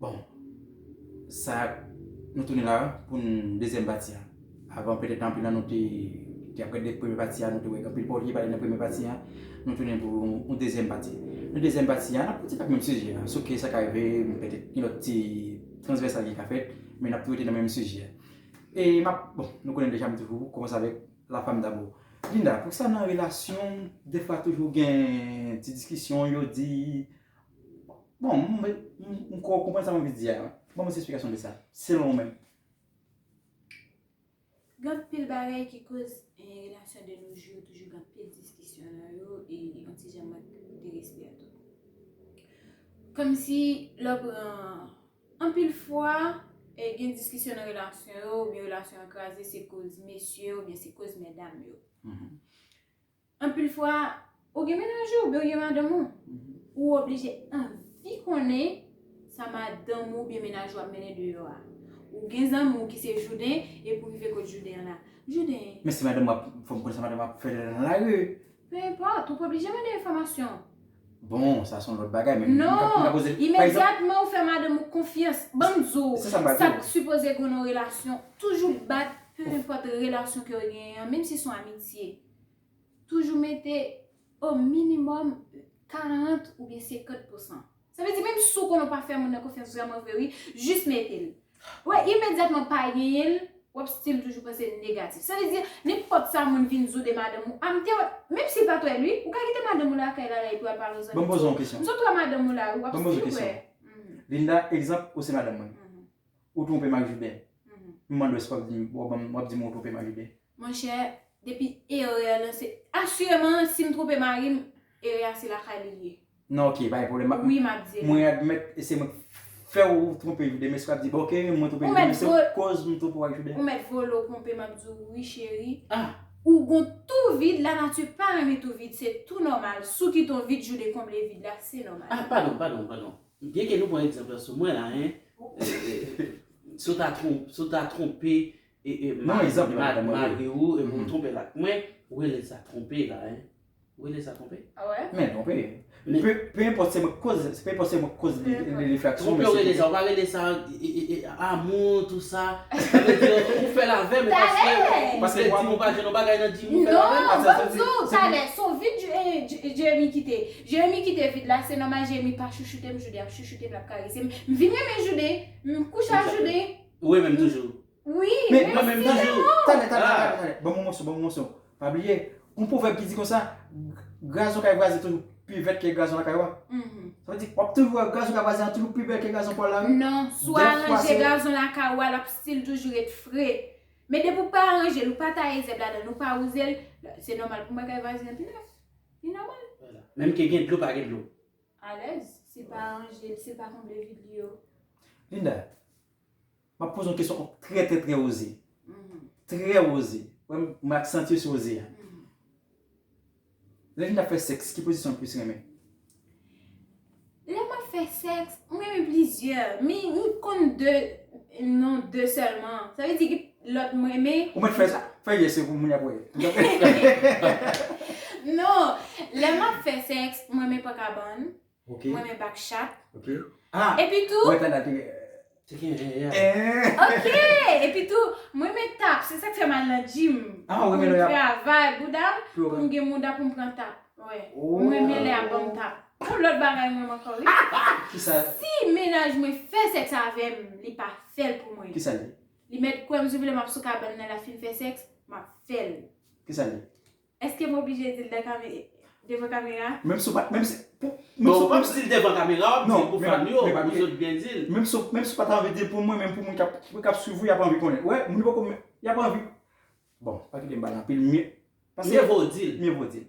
Bon sa nou tounen la pou dezyèm pati a. Avan petèt anpil nan nou te ap gade premye pati a, nou te wè anpil pa w te vle pale nan premye pati a. Nou tounen pou yon dezyèm pati. Nan dezyèm pati a, n ap pati ak menm sijè a. Souke sa ka rive petèt gen lòt ti transvèsal ki ka fèt, men n ap tou rete nan menm sijè a. E m ap, bon nou konnen deja m di pou kòmanse avèk la fam dabò. Linda, poukisa nan relasyon defwa toujou gen ti diskisyon, yo di, Bon, m kwè w konprann sa mwen vle di a. Ban mwen esplikasyon de sa, selon ou menm. Gen anpil bagay ki koz relasyon de nos jours toujou gen anpil diskisyon nan yo e yon ti jan mank de respè a tou. Kòm si lè w pran, anpil fwa gen diskisyon nan relasyon yo oubyen relasyon an kraze se koz mesye yo oubyen se koz medam yo. Anpil fwa, ou gen mennaj ou oubyen ou gen madanm ou, ou oblije anvi konnen sa madanm ou oubyen mennaj ou ap mennen deyò a. Ou gen zanmi w ki se jouden, epi w rive kot jouden an la, Jouden! Men si madanm ou ap, fò m konnen sa madanm ou ap fè lè l nan lari. Pe enpòt, ou pa oblije mande enfòmasyon. Bon, sa se yon lòt bagay, men m ka poze l, pa egzanp. Non! Imedyatman ou fè madanm ou konfyans, ban m di w, sa k sipoze gen nan yon relasyon, toujou bat, pe enpòt relasyon ke w genyen an, menm si son amitye. toujou mete o minimòm 40 oubyen 50 pousan. Sa vle di menm si w konnen w pa fè moun nan konfyans vrèman vre wi, jis mete l. Wè imedyatman pa genyen l, w ap stil toujou panse negatif. Sa vle di nenpòt sa moun vin di w de madanm ou, a m te wè, menm si l pa t wè l wi, ou ka kite madanm ou lakay la la epi w al pale yon zanmi di w, m sot wè madanm ou la wi, w ap stil wè. Linda, egzanp, ou se madanm mwen. Ou twonpe m ak Joubè. M mande w èske w ap di m, w ap di m ou twonpe m ak Joubè. Monchè depi erè lan se asireman sim twonpe marim erè a se lakay li liye. Non ok pa gen pwoblèm. Wi map di la. Mwen admèt e se mwen ki fèw twonpe joude men si wap di bon ok mwen twonpe joude men se koz m twonpe w ak joude. Ou mèt vole w twonpe map di w wi cheri ou gon tou vid la nati pa renmen tou vid se tou nòmal sou ki ton vid joude konble vid la se nòmal. Ah padon padon padon byen ke nou pran egzanp lan sou mwen la hein si w ta twonpe Malgre ou e pou tronpe l ak mwen, Wele sa tronpe la hein. Wele sa tronpe? Ah ouais? Men tronpe. Peu importe se mwen koz, peu importe se mwen koz li li fè aksyon. Tronpe Wele sa, ou pa rele sa amour tout sa. Sa vle di ou fè l avè m paske ou vle di m ou pa jwenn yon bagay nan di m ou fè l avè m. Non, banm di w talè, son vid Jérémie kite. Jérémie kite vid la, se nòmal Jérémie pa chouchoute m, Jude ap chouchoute m, l ap karese m. M vin renmen Jude, m kouche ak Jude. Ou renmenm toujou. Wi, mèsi anmwoo. Mèsi anmwoo. Tande, tande, tande, tande. Ban mwen moso, ban mwen moso. Pa bliye, gon pwovèb ki di konsa, gazon kay vwazen toujou pi vèt ke gazon lakay ou a. Sa vle di, wap toujou wè gazon kay vwazen an toujou pi bèl ke gazon pa w la wi. Non, si w aranje gazon lakay ou a, lap stil toujou ret fre. Men depi w pa aranje l, ou pa taye zèb ladan l, ou pa wouze l, se nòmal pou w wè kay vwazen an pi nèf. Li nòmal. Menm ke gen dlo pa gen dlo. Alèz, sil pa ranje, sil pa konble vid li yo. Linda, map poze yon kesyon k'ap trè trè trè oze. Trè oze. Wè mwen ak senti yo se oze a. Lè Linda ap fè sèks, ki pozisyon li plis renmen? Lè map fè sèks, mwen renmen plizyè. Men mwen konn 2, non 2 sèlman. Sa vle di Lot m renmen. Ou met fè sa? Fè yes yo pou moun yo ap wè. Non, lè map fè sex, m renmen pran kabann, m renmen back chat. Ok. Ah! Epi tou. Wè tanda te. Te gen yen yen. Eeh! Ok! Epi tou, m renmen tap, se sak fè m al nan gym. Ah, ou renmen lè yap. Pou m travay bouda m, pou m gen mouda pou m pran tap. Wè. Oh! M renmen lè yap banm tap. Gon lot bagay m renmen ankò wi. Kisa? Si menaj mwen fè sex avè m, li pa fè l pou mwen. Kisa l ye? Li mèt kwèm sou vle map sou kabann nan la fin fè sex map fèl. Kisa li? Eskem oblije dil dan kame devan kamera? Menm si w pat menm si Bon ou pap dil devan kamera wap dil pou fan yo pou zot byen dil. Menm si w menm si w pata anvi dil pou mwen menm pou moun kap kap swiv ou yap anvi konnen wè moun yo poko yap anvi bon pa kite m pale anpil mye pase Mye vo w dil. Mye vo w dil.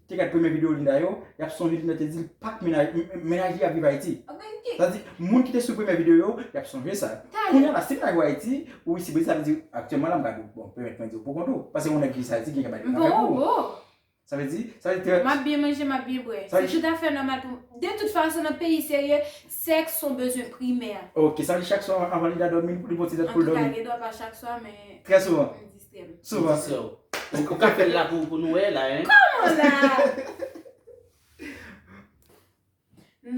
Te gad premye video Linda yo, yap sonje Linda te dil pak mennaj li ap viv Ayiti. Sa vle di moun ki te swiv premye video yo, yap sonje sa. Kounya la si mennaj ou Ayiti, ou isi Brezil sa vle di aktyèlman la m gad ou. Bon, pèmèt mwen di ou pou kont ou. Pase yon nèg ki Ayiti gen kè bay kòb avèk ou. Sa vle di, sa vle di. Map byen manje, map byen bwè. Se tout afè nòmal pou m. De tout fason nan peyi serye, sèks son bezwen primè. Ok, sa vle di chak swa anvan Linda dòmi, li pran yon ti lèt pou l dòmi. Antouka gen dwa pa chak swa men. Trè souvan. Sou va. Sou va. Ou ka fèl la pou nou wè la hein. Kòman la?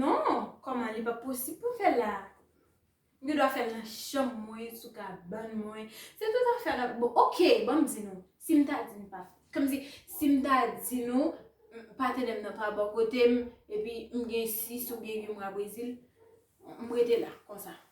Non, kòman li pa posib pou fèl la. Mwen gen dwa fèl nan chanm mwen, sou kabann mwen. Se tout afè la. Bon ok, banm di nou. Sim ta di nou pa. Kòm si sim ta di nou patenèm nan pa bò kotem epi m gen 6 ou gen 8 mwa Brezil, m rete la konsa.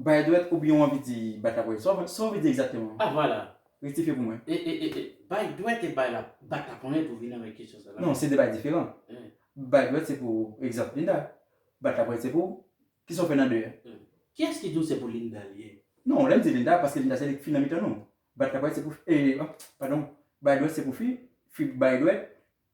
Bay dwèt oubyen w anvi di bat laponyèt? Sa w anvi di egzakteman? Ah vwala! Rektifye pou mwen. E, e, e, e, bay dwèt e bay lap, bat laponyèt ou vini avèk kesyon sa la? Non, se de bagay diferan. Bay dwèt se pou, egzanp, Linda. Bat laponyèt se pou, kisa w fè nan de a? Kiyès ki di w se pou Linda li ye? Non, lè m di Linda, paske Linda se li k fi nan mitan nou. Bat laponyèt se pou, e, anpl, padon, bay dwèt se pou fi, fi bay dwèt,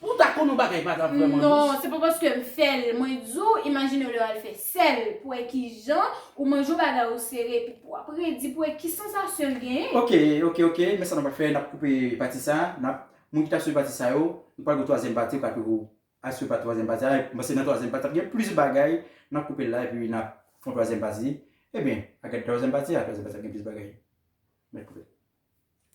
Pou ta konn yon bagay pa ta vrèman dous. Non, se pa paske m fè l mwen di w, imajine w lè w al fè sèl pou wè ki jan ou manje yon bagay ou sere epi pou w ap redi pou wè ki sansasyon l genyen. Ok, ok, ok, men sa n ap fè, n ap koupe pati sa a, n ap, moun ki t ap swiv pati sa yo, nou pral gen yon twazyèm pati yo ka toujou al swiv pa twazyèm pati a, m panse nan twazyèm pati a ap gen plis bagay, n ap koupe l la epi n ap fè yon twazyèm pati, ebyen a gade twazyèm pati a, twazyèm pati a ap gen plis bagay. Mèt koupe.